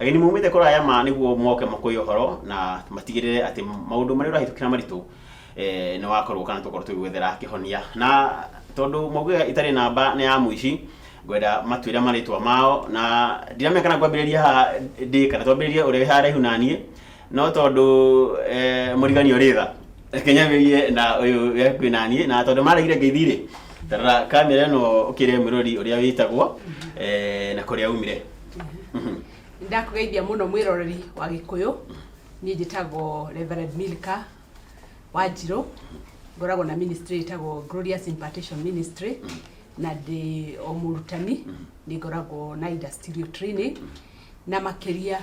Ageni maumĩte kũraya ma nĩguo moke makũye ũhoro na matigĩrĩre atĩ maũndũ marĩa ũrahĩtũkĩra maritũ eh, nĩ wakorwo kana tũkorwo tũgĩgwethera kĩhonia na tondũ maugaga itarĩ namba nĩ ya mũici ngwenda matwĩre marĩtwa mao na ndiramenya kana ngwambĩrĩria haha ndĩ kana twambĩrĩrie ũrĩa wĩ haraihu na niĩ no tondũ eh, mũrigani ũrĩ tha reke nyambĩrĩrie na ũyũ wĩ hakuhĩ na niĩ na tondũ maregire ngeithi rĩ tarora kamera ĩno ũkĩre mwĩrori ũrĩa wĩtagwo eh, na kũrĩa umire ndakugeithia muno mwiroreri wa gikuyu nie njitagwo reverend milka wanjiro ngoragwo na ministry itagwo glorious impartation ministry na ndi o murutani ni ngoragwo na industrial training na makiria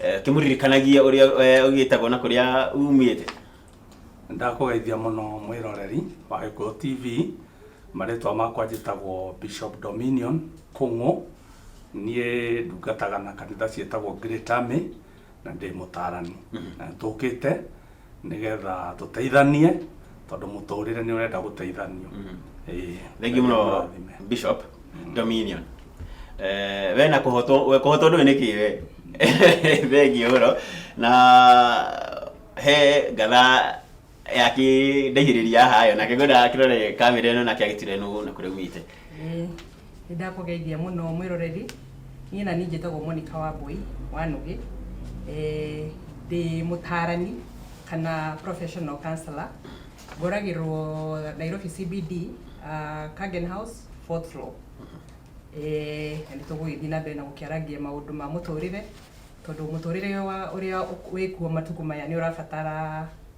Eh, kĩmũririkanagia ũrĩa eh, ũgĩtagwo na kũrĩa umĩte ndakũgeithia mũno mwĩroreri wa gĩkũyũ tv marĩtwa makwa njĩtagwo bishop dominion kũng'ũ niĩ ndungataga na kanitha ciĩtagwo Great Army, na ndĩ mũtarani na tũkĩte nĩgetha tũteithanie tondũ mũtũrĩre nĩ ũrenda gũteithanio Ĩĩ. thengi muno Mũrathime. bishop dominion Eh, we na kuhotwo we kuhotwo ndũĩ nĩkĩ we thengi ũhoro na he ngatha yakĩndaihĩrĩria haha yo nake ngwenda kĩrore kamera ĩno nake agĩtire nũ na kũrĩa umĩte Nĩ ndakũgeithia mũno mwĩroreri. Niĩ naniĩ njĩtagwo Monica Wambũi wa Nũgĩ. Ndĩ mũtaarani kana professional counsellor. Ngoragĩrwo Nairobi CBD, Kagen House, fourth floor. Na nĩ tũgũgĩthiĩ na mbere na gũkĩarangia maũndũ ma mũtũrĩre, tondũ mũtũrĩre ũrĩa wĩkuo matukũ maya nĩ ũrabatara...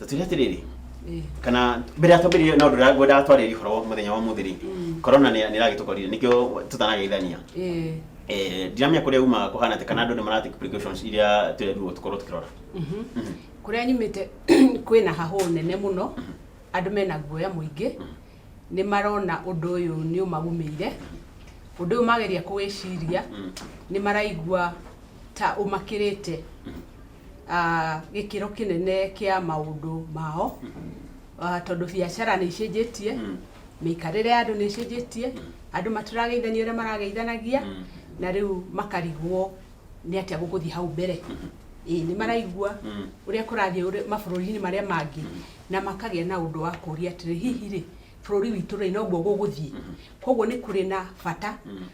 tũtwĩre atĩrĩrĩ Eh, kana mbere ya twambĩrĩrie na ũndũ ũrĩa ngwendaga twarĩrie ũhoro wa mũthenya wa mũthĩ rĩ Mm. korona nĩ nĩ ĩragĩtũkorire nĩkĩo tũtanageithania eh, Eh, ndiramenya kũrĩa umaga kũhana atĩ kana andũ nĩ maratake precautions iria twerirwo tũkorwo tũkĩrora mhm. Mhm. kũrĩa nyumĩte kwĩna hahũ nene mũno andũ mena guoya mũingĩ nĩ marona ũndũ ũyũ nĩ ũmagumĩire ũndũ ũyũ mageria kũwĩciria Mm. nĩ maraigua ta ũmakĩrĩte ah, gĩkĩro kĩnene kĩa maũndũ mao Ah, tondũ biacara nĩ icenjetie mĩikarĩre ya andũ nĩ icenjetie andũ matirageithania ũrĩa marageithanagia na rĩu makarigwo nĩ atĩa gũgũthiĩ hau mbere ĩĩ nĩ maraigua ũrĩa kũrathiĩ ũrĩa- mabũrũri-inĩ marĩa mangĩ na makagĩa na ũndũ wa kũria atĩrĩ hihi rĩ bũrũri witũ rĩ noguo gũgũthiĩ koguo nĩ kũrĩ na bata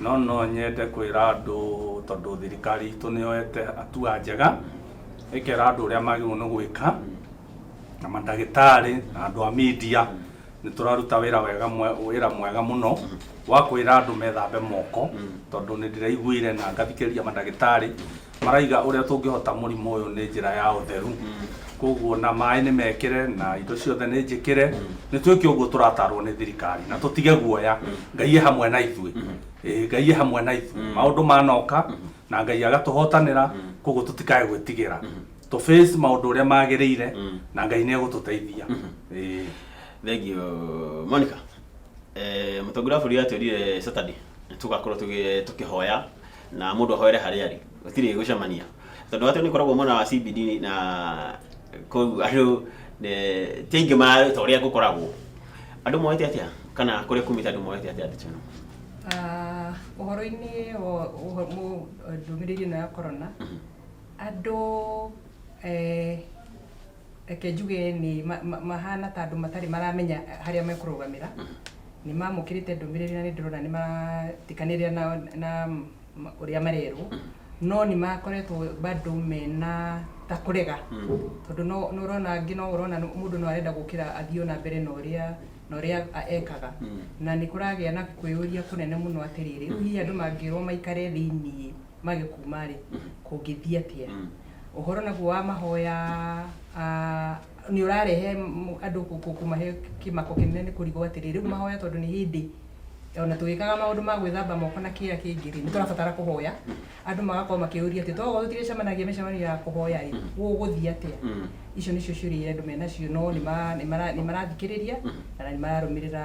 No no nyende kwĩra andũ tondũ thirikari itũ nĩ yoete hatua njega, ĩkera andũ ũrĩa magĩrĩirwo nĩ gwĩka, na mandagĩtarĩ na andũ a media nĩ tũraruta wĩra wega mwe- wĩra mwega mũno wa kwĩra andũ methambe moko, tondũ nĩ ndĩraiguire na ngathikĩrĩria mandagĩtarĩ Maraiga ũrĩa tũngĩhota mũrimũ ũyũ nĩ njĩra ya ũtheru koguo na maĩ nĩ mekĩre na indo ciothe nĩ njĩkĩre nĩ twĩke ũguo tũratarwo nĩ thirikari na tũtige guoya ngai e hamwe na ithuĩ Ĩĩ, ngai e hamwe na ithuĩ maũndũ manoka na ngai agatũhotanĩra koguo tũtikae gwĩtigĩra tũ face maũndũ ũrĩa magĩrĩire na ngai nĩ egũtũteithia Ĩĩ. thank you monica eh, mũtongoria wa bũrũri atwĩrire saturday nĩ tũgakorwo tũgĩ- tũkĩhoya na mũndũ ahoere harĩa arĩ gũtirĩ gũcemania tondũ watu nĩ koragwo mwena wa CBD na kũu andũ ne- ti aingĩ ma ta ũrĩa gũkoragwo andũ moete atĩa kana kũrĩa kumĩte andũ moete atĩa ndeto ĩno Ah, ũhoro-inĩ wa ũho- mũ- ndũmĩrĩri ĩno ya korona andũ eh, reke njuge nĩ ma- ma- mahana ta andũ matarĩ maramenya harĩa mekũrũgamĩra nĩ mamũkĩrĩte ndũmĩrĩri na nĩ ndĩrona nĩ maratikanĩrĩra na, na ma- ũrĩa marerwo no nĩ makoretwo bado mena ta kũrega tondũ no no ũrona angĩ no ũrona nĩ- mũndũ no arenda gũkĩra athiĩ ona mbere na ũrĩa na ũrĩa a- ekaga na nĩ kũragĩa na kwĩyũria kũnene mũno atĩrĩrĩ hihi andũ mangĩrwo maikare thĩinĩ mage kuma rĩ kũngĩthiĩ atĩa Ũhoro naguo wa mahoya nĩ ũrarehe andũ kũmahe kĩmako kĩnene nĩ kũrigwo atĩrĩ, rĩu mahoya tondũ nĩ hĩndĩ ona tũgĩkaga maũndũ ma gwĩthamba moko na kĩrĩa kĩngĩ rĩ, nĩ tũrabatara kũhoya. Andũ magakorwo makĩũria atĩ tokorwo tũtirĩcemanagia mĩcemanio ya kũhoya rĩ, gũgũthiĩ atĩa? Icio nĩcio ciũria iria andũ menacio no nĩ marathikĩrĩria na nĩ mararũmĩrĩra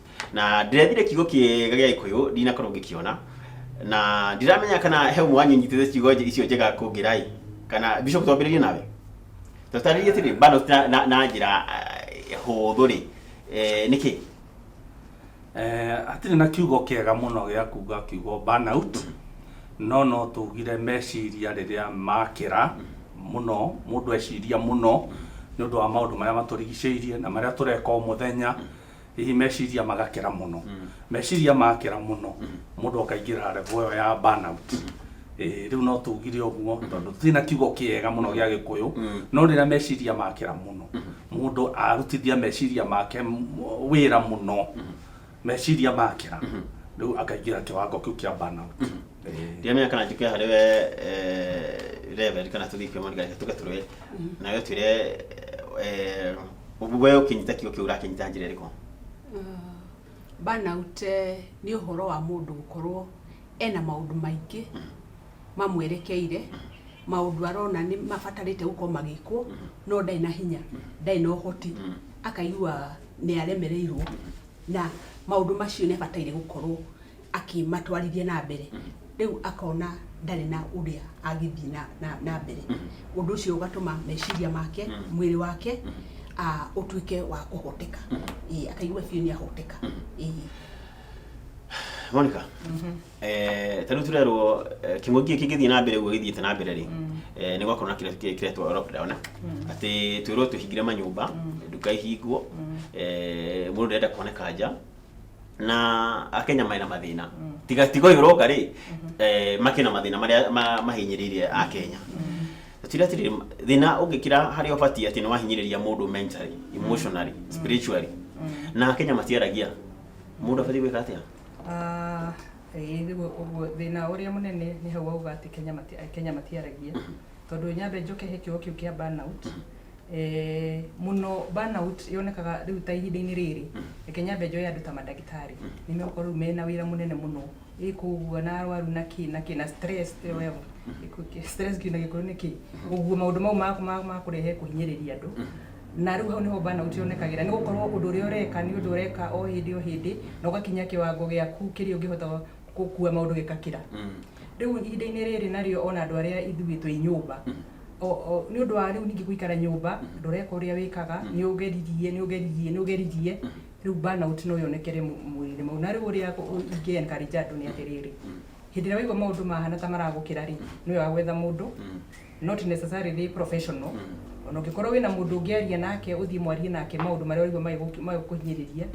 na ndĩrethire kiugo kĩega gĩa gĩkũyũ ndinakorwo ngĩkĩona na ndiramenya kana he ũmwe wanyu nyitĩte ciugo nje- icio njega kũngĩrai kana bishop twambĩrĩrie nawe tũtarĩrie atĩrĩ bado na, na, na njĩra eh, hũthũ rĩ eh, nĩkĩ Eh, hatirĩ na kiugo kĩega mũno gĩa kuga kiugo burnout no no tugire meciria rĩrĩa makĩra mũno mũndũ eciria mũno nĩ ũndũ wa maũndũ marĩa matũrigicĩirie na marĩa tũreka o mũthenya hihi meciria magakĩra mũno meciria makĩra mũno mũndũ akaingĩra revo ĩyo ya burnout Eh, rĩu no tugire ũguo tondũ tũtirĩ na kiugo kĩega mũno gĩa gĩkũyũ no rĩrĩa meciria makĩra mũno mũndũ arutithia meciria make m- wĩra mũno meciria makĩra rĩu akaingĩra kĩwango kĩu kĩa burnout ndiramenya kana njũke harĩ we eh, reverend kana tũthiĩ kwĩ moni kana tũke tũrũe nawe twĩre eh, we ũkĩnyita kiugo kĩu ũrakĩnyita njĩra ĩrĩkũ burnout eh, nĩ ũhoro wa mũndũ gũkorwo ena maũndũ maingĩ mamwerekeire maũndũ arona nĩ mabatarĩte gũkorwo magĩkwo no ndarĩ na hinya ndarĩ na ũhoti akaigua nĩ aremereirwo na maũndũ macio nĩ abataire gũkorwo akĩmatwarithia na mbere rĩu akona ndarĩ na ũrĩa angĩthiĩ na, na, na mbere ũndũ ũcio ũgatũma meciria make mwĩrĩ wake ah, ũtuĩke wa kũhoteka Ĩĩ, akaigua biũ nĩ ahoteka Ĩĩ. monica eh, tarä u tå rerwo kä ngå gä kä ngä thiä na mbere guo gä thiä te na mbere rä nä gwakorwo na kä retwo lockdown atä twä rwo twä hingire manyå mba nduka ihingwo må ndå ndärenda kuoneka nja na akenya marĩ na mathĩna tiga tiga ũyũ ũroka rĩ eh, makĩ na mathĩna marĩa ma- mahinyĩrĩirie akenya tira tirĩ thĩna ũngĩkira harĩa ũbatiĩ atĩ nĩ wahinyĩrĩria mũndũ mentally emotionally spiritually na akenya matiaragia mũndũ abatiĩ gwĩka atĩa Ah, ĩĩ, rĩu ũguo thĩna ũrĩa mũnene nĩ hau wauga atĩ Kenya mati- Kenya matiaragia tondå nyambe njoke he kä kä u kä a burnout eh, muno burnout yonekaga riu ta ihinda-inĩ rĩrĩ reke nyambe njoe andå ta mandagĩtarĩ nĩ megũkorwo rĩu mena wĩra mũnene mũno ĩkũgua na arwaru na kĩ na kĩ na stress ĩyo wewe Ĩkũ- kĩ- stress kiu na gĩkũyũ nĩ kĩ ũguo maũndũ mau ma- ma- ma kũrehe kũhinyĩrĩria andũ na rĩu hau nĩho burnout yonekagĩra nĩ gũkorwo ũndå ũrĩa ũreka nĩ ũndå ũreka o hĩndĩ o hĩndĩ na ũgakinya kĩwango gĩaku kĩrĩa ũngĩhota gũkua maũndũ gĩkakĩra Mm. rĩu ihinda-inĩ rĩrĩ narĩo ona andũ arĩa ithuĩ twĩ nyũmba o- o- nĩ ũndũ wa rĩu ningĩ gũikara nyũmba ndũreka ũrĩa wĩkaga nĩ ũgeririe nĩ ũgeririe nĩ ũgeririe rĩu burnout no yonekere mũ- mwĩrĩ-inĩ mau na rĩu ũrĩa ingĩ encourage andũ nĩ atĩrĩrĩ hĩndĩ ĩrĩa waigua maũndũ mahana ta maragũkĩra rĩ nĩ wega gwetha mũndũ Mm. not necessarily professional ona ũngĩkorwo wĩna mũndũ ũngĩaria nake ũthiĩ mwarie nake maũndũ marĩa ũraigua magĩgũ- magĩkũhinyĩrĩria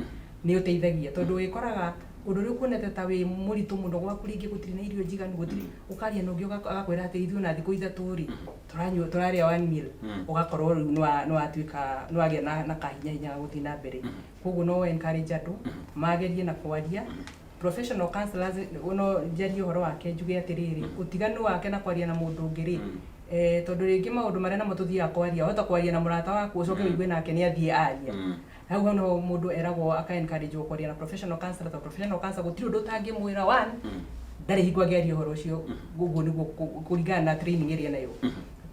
nĩ ũteithagia tondũ wĩkoraga ũndũ ũrĩa ũkuonete ta wĩ mũritũ mũno gwaku rĩngĩ gũtirĩ na irio njiganu gũtirĩ ũkaria na ũngĩ ũgak- agakwĩra atĩ ithuĩ ona thikũ ithatũ rĩ tũranyua tũrarĩa one meal ũgakorwo rĩu nĩwa- nĩwatuĩka nĩwagĩa na na kahinya hinya ga gũthiĩ na mbere koguo no encourage andũ magerie na kwaria professional counselors nĩ- no njarie ũhoro wake njuge atĩrĩrĩ ũtiganu wake na kwaria na mũndũ ũngĩ rĩ eh, tondũ rĩngĩ maũndũ marĩa namo tũthiaga kwaria wahota kwaria na mũrata waku ũcoke wĩigue nake nĩ athiĩ aria hau hau no mũndũ eragwo aka encourage wo kwaria na professional counselor tondũ professional counselor gũtirĩ ũndũ ũtangĩmwĩra one ndarĩ hingo angĩaria ũhoro ũcio ũguo nĩguo kũ- kũringana na training ĩrĩa enayo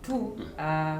two ah,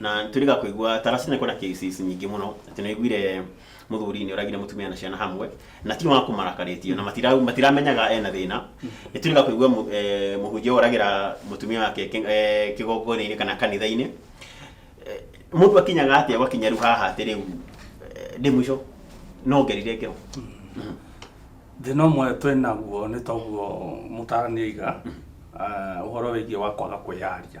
na nitwirika kuigua tarasi nä kwena cases nyingä må no atä nä aiguire må thuri nä oragire må tumia na ciana hamwe na ti wa kå marakarä tie na matira- matiramenyaga ena thä na nä twirika kuigua må hunjia oragä ra må tumia wake kä gongonainä kana kanitha-inä må ndå akinyaga atä a gwakinya rä u haha atä rä u ndä må ico no ngerire ngero thina ũmwe twĩ naguo nĩ toguo mũtarani aiga eh, ũhoro wĩgiĩ wa kwaga kwĩyaria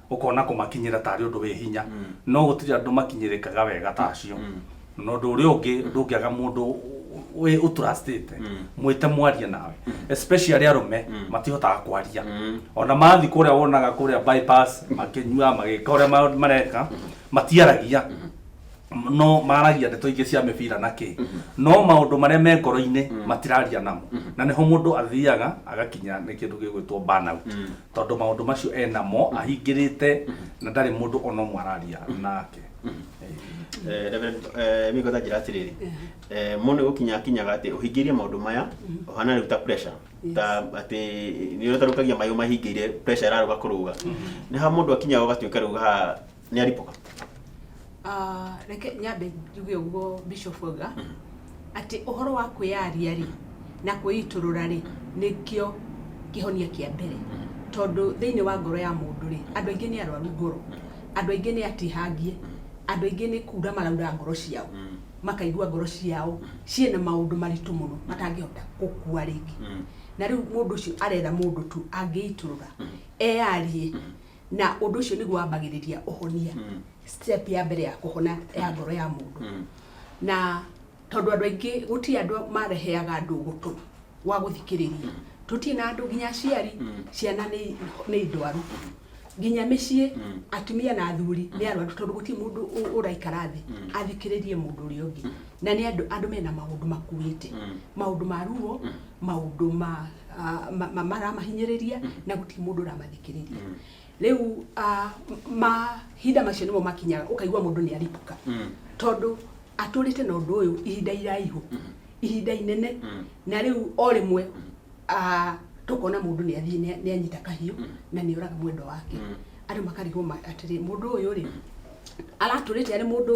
ũkona kũmakinyĩra tarĩ ũndũ wĩ hinya no gũtirĩ andũ makinyĩrĩkaga wega ta acio na ũndũ ũrĩa ũngĩ ndũngĩaga mũndũ wĩ ũtrustĩte mwĩte mwarie nawe especially arũme matihotaga kwaria ona mathiĩ kũrĩa wonaga kũrĩa bypass makĩnyua magĩka ũrĩa ma- mareka matiaragia no maragia ndeto ingĩ cia mĩbira na kĩ no maũndũ marĩa me ngoro-inĩ matiraria namo na nĩho mũndũ athiaga agakinya nĩ kĩndũ gĩgwĩtwo burnout tondå maå ndå macio enamo ahingä te na ndarä må ndå ona å mwe araria nake Eh, Reverend, eh, miko ta njira atiriri Eh, mũndũ gũkinya akinyaga atĩ ũhingĩirie maũndũ maya ũhana rĩu ta pressure ta atĩ nĩ ũtarũkagia mayũ mahingĩire pressure ĩrarũga kũrũga nĩ ha mũndũ akinyaga ũgatuĩka rĩu ha nĩ aripũka Ah, reke nyambe njuge ũguo bishop auga atĩ ũhoro wa kwĩyaria rĩ na kwĩitũrũra rĩ nĩkĩo kĩhonia kĩa mbere tondũ thĩinĩ wa ngoro ya mũndũ rĩ andũ aingĩ nĩ arwaru ngoro andũ aingĩ nĩ atihangie andũ aingĩ nĩ kura maraura ngoro ciao makaigua ngoro ciao ciĩna maũndũ maritũ mũno matangĩhota gũkua rĩngĩ na rĩu mũndũ ũcio arera mũndũ tu angĩitũrũra eyarie na ũndũ ũcio nĩguo wambagĩrĩria ũhonia mm. step ya mbere ya kũhona ya ngoro ya mũndũ mm. na tondũ andũ aingĩ gũtirĩ andũ mareheaga andũ gũtũ wa gũthikĩrĩria mm. tũtirĩ na andũ nginya aciari mm. ciana nĩ ndwaru mm. nginya mĩciĩ mm. atumia na athuri nĩ mm. arwaru tondũ gũtirĩ mũndũ ũraikara thĩ mm. athikĩrĩrie mũndũ ũrĩa ũngĩ mm. na nĩ andũ andũ mena maũndũ makuĩte mm. maũndũ ma ruo mm. maũndũ ma ah, ma- ma- maramahinyĩrĩria na gũtirĩ mũndũ ũramathikĩrĩria rĩu ah, m- mahinda macio nĩmo makinyaga ũkaigua mũndũ nĩ aripũka tondũ atũrĩte na ũndũ ũyũ ihinda iraihu ihinda inene na rĩu o rĩmwe ah, tũkona mũndũ nĩ athiĩ nĩ- nĩ anyita kahiũ na nĩ oraga mwendwa wake andũ makarigwo ma- atĩrĩ mũndũ ũyũ rĩ aratũrĩte arĩ mũndũ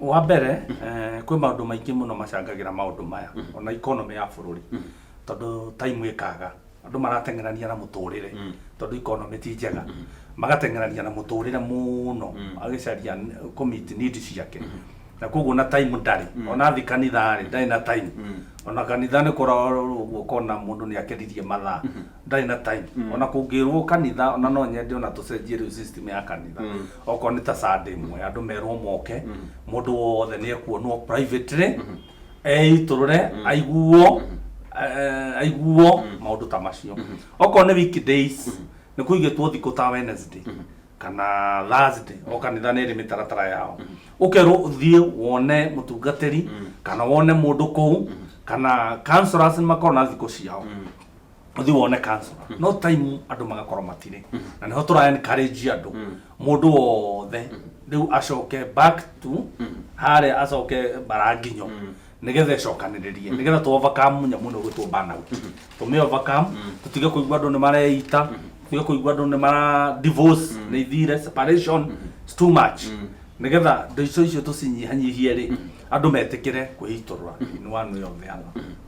wa mbere eh, kwĩ maũndũ maingĩ mũno macangagĩra maũndũ maya ona ikonomĩ ya bũrũri tondũ taimu ĩkaga andũ marateng'erania na mũtũrĩre tondũ ikonomĩ ti njega magateng'erania na mũtũrĩre mũno agĩcaria n- kũmiti nidi ciake na koguo na taimu ndarĩ ona athi kanitha rĩ ndarĩ na taimu ona kanitha nĩ kũrorwo ũguo ũkona mũndũ nĩ akeririe mathaa ndarĩ na taimu ona kũngĩrwo kanitha ona no nyende ona tũcenjie rĩu system ya kanitha okorwo nĩ ta sande ĩmwe andũ merwo moke mũndũ wothe nĩ ekuonwo privately eitũrũre aiguo eh, aiguo maũndũ ta macio okorwo nĩ weekdays nĩ kũigĩtwo thikũ ta wednesday kana thursday o kanitha nĩ ĩrĩ mĩtaratara yao ũkerwo ũthiĩ wone mũtungatĩri kana wone mũndũ kũu kana councillors nĩ makoragwo na thikũ ciao ũthiĩ wone council no time andũ magakorwo matirĩ na nĩho tũra encourage andũ mũndũ wothe rĩu acoke back to harĩa acoke baranginyo nĩgetha ĩcokanĩrĩrie nĩgetha tũ overcome nyamũ ĩno ĩgwĩtwo burnout tũmĩ overcome tũtige kũigua andũ nĩ mareita tũtige kũigua andũ nĩ mara divorce nĩ ithire separation it's too much nĩgetha ndĩco icio tũcinyihanyihie rĩ andũ metĩkĩre kwĩitũrũra in one way or the other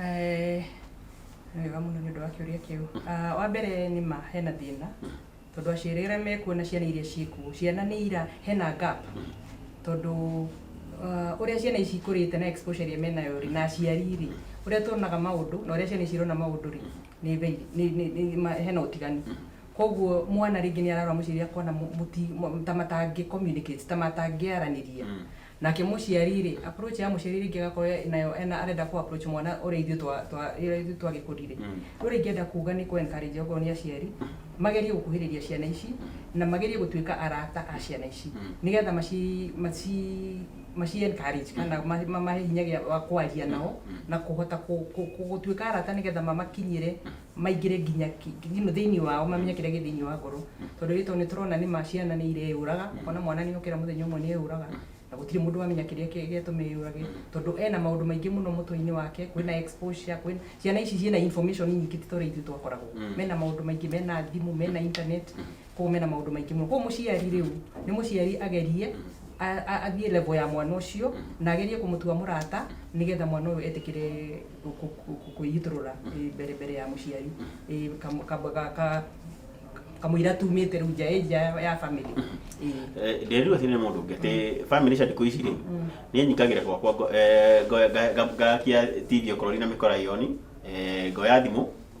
Eh, nĩ wega mũno nĩ ũndũ wa kĩũria kĩu Ah, wa mbere nĩ ma hena thĩna tondũ aciarĩre mekuo na ciana iria ciĩkuo ciana nĩ ira hena gap tondũ ah, ũrĩa ciana ici ikũrĩte na exposure ĩrĩa menayo rĩ na aciari rĩ ũrĩa tuonaga maũndũ na ũrĩa ciana ici irona maũndũ rĩ nĩ very nĩ- nĩ- nĩ- ma- hena ũtiganu koguo mwana rĩngĩ nĩ ararora mũciari akona mũ- mũti- mũ- ta matangĩ communicate ta matangĩaranĩria Nake mũciari rĩ approach ya mũciari rĩngĩ agakorwo e- nayo ena arenda kũ approach mwana ũrĩa ithuĩ twa twa ũrĩa ithuĩ twa gĩkũri rĩ Mm. rĩu ũrĩa ingĩenda kuga nĩ kũ encourage okorwo nĩ aciari magerie gũkuhĩrĩria ciana ici na magerie gũtuĩka arata a ciana ici Mm. nĩgetha maci maci maci encourage kana ma- mamahe hinya gĩa wa kwaria nao Mm. na kũhota kũ- kũ- kũ- gũtuĩka arata nĩgetha mamakinyĩre maingĩre nginya thĩinĩ wao mamenye kĩrĩa gĩ thĩinĩ wa ngoro tondũ gĩtũ nĩ tũrona nĩ ma ciana nĩ ireyũraga ona mwana nĩ okĩra mũthenya ũmwe nĩ eyũraga na gũtirĩ mũndũ wamenya kĩrĩa gĩatũma eyũrage tondũ ena maũndũ maingĩ mũno mũtwe-inĩ wake kwĩna exposure kwĩna ciana ici ciĩna information nyingĩ ti ta ũrĩa ithuĩ twakoragwo mena maũndũ maingĩ mena thimũ mena internet koguo mena maũndũ maingĩ mũno koguo mũciari rĩu nĩ mũciari agerie a- a- athiĩ level ya mwana ũcio na agerie kũmũtua mũrata nĩgetha mwana ũyũ etĩkĩre kũ- kũ- kũ- kwĩitũrũra eh, mbere mbere ya mũciari Eh, kam- kam- ka- ka- kamũira tumĩte rĩu nja ĩ nja ya family Eh, ndĩrirwo atĩ nĩ mũndũ ũngĩ atĩ bamĩrĩ cia ndikũ ici rĩ nĩ nyingagĩra gwakwa ngo- eh, ngo- nga- nga- ngakia tv okorwo rĩ na mĩkora yoni eh, ngoya thimũ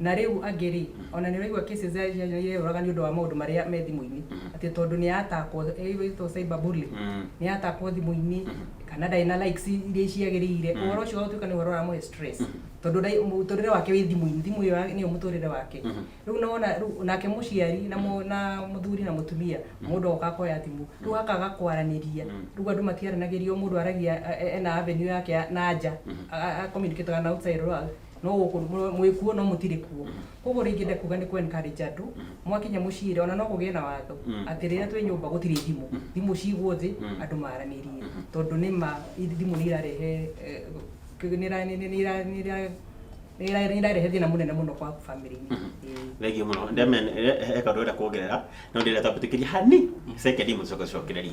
Na rĩu angĩ-rĩ, o na nĩũraigua cases cia ciana iria ireyũraga nĩ ũndũ wa maũndũ marĩa me thimũ-inĩ, atĩ tondũ nĩ atakwo, either ĩtagwo cyber bully, nĩ atakwo thimũ-inĩ, kana ndarĩ na likes iria ciagĩrĩire, ũhoro ũcio ũgatuĩka nĩ ũhoro ũramũhe stress, tondũ mũtũrĩre wake wĩ thimũ-inĩ, thimũ ĩyo nĩyo mũtũrĩre wake. Rĩu nĩ wona, rĩu nake mũciari na mũthuri na mũtumia, mũndũ ogoka akoya thimũ, rĩu hakaga kwaranĩria, rĩu andũ matiaranagĩria, o mũndũ aragia ena avenue yake ya na nja, a communicate aga na outside world. No gũkũ mũ- mwĩ kuo no mũtirĩ kuo. Kwoguo ũrĩa ingĩenda kuuga nĩ kũ encourage andũ, mwakinya mũciĩre ona no kũgĩe na watho atĩ rĩrĩa twĩ nyũmba gũtirĩ thimũ. Thimũ ciigwo thĩ, andũ maaranĩrie. Tondũ nĩ ma ithi- thimũ nĩ irarehe eh, kĩ- nĩ ira- nĩ- nĩ- nĩ ira- nĩ ira- nĩ ira- nĩ irarehe thĩna mũnene mũno kwa family-inĩ. Ĩĩ. thengiũ mũno Ndemen- he- he kaũndũ ũrenda kuongerera no ndĩrenda twambĩtĩkĩrie hani second mũcoke cokereri